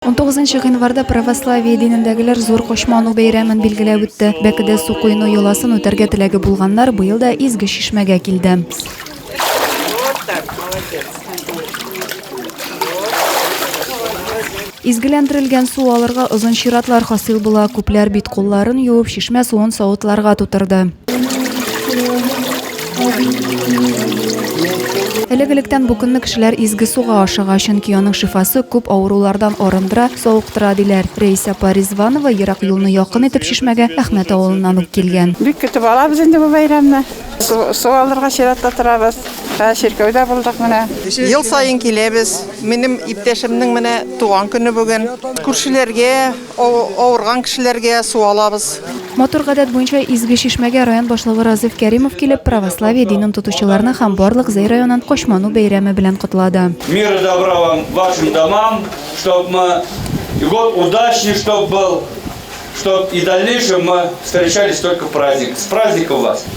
19 гыйнварда православие динендәгеләр зур кочману бәйрәмен билгеләп үтте. Бәкедә су коену йоласын үтәргә теләге булганнар быел да Изге Чишмәгә килде. Изгеләндерелгән су алырга озын чиратлар хасил була. Күпләр бит-кулларын юып, чишмә суын савытларга тутырды. Элек-электән бу көнне кешеләр изге суга ашыга, чөнки аның шифасы күп авырулардан арындыра, савыктыра, диләр. Рәис апа Ризванова ерак юлны якын итеп Чишмәгә Әхмәт авылыннан үк килгән. Бик көтеп алабыз инде бу бәйрәмне. Су алырга чиратта торабыз. Хәзер чиркәүдә булдык менә. Ел саен киләбез. Минем иптәшемнең менә туган көне бүген. Күршеләргә, Авырган кешеләргә су алабыз. Матур гадәт буенча Изге Чишмәгә район башлыгы Разыйф Кәримов килеп, православие динен тотучыларны һәм барлык Зәй районын Кочману бәйрәме белән котлады. Мира добра вам вашим домам, чтоб мы и год удачный чтоб был, чтоб и дальнейшем мы встречались только в праздник. С праздником вас!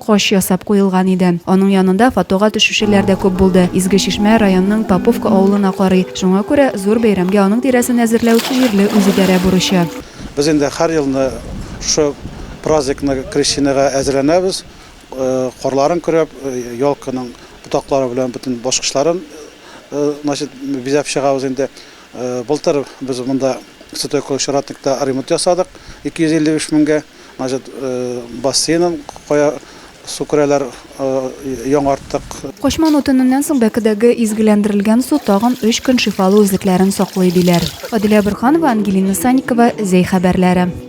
Кош ясап куелган иде. Аның янында фотога төшүчеләр дә күп булды. Изге Чишмә районның Поповка авылына карый. Шуңа күрә зур бәйрәмгә аның тирәсен әзерләү җирле үзидарә бурычы. Без инде һәр елны шушы праздникны, Крещенега әзерләнәбез. Карларын көрәп, елканың ботаклары белән бөтен баскычларын значит, бизәп чыгабыз инде. Былтыр без монда Святой Кулыч Ратникта ремонт ясадык, 255 меңгә. Значит, бассейнын кая су керәләр, яңарттык. Качману төненнән соң бәкедәге изгеләндерелгән су тагын өч көн шифалы үзлекләрен саклый, диләр. Адилә Борһанова, Ангелина Санникова, Зәй хәбәрләре.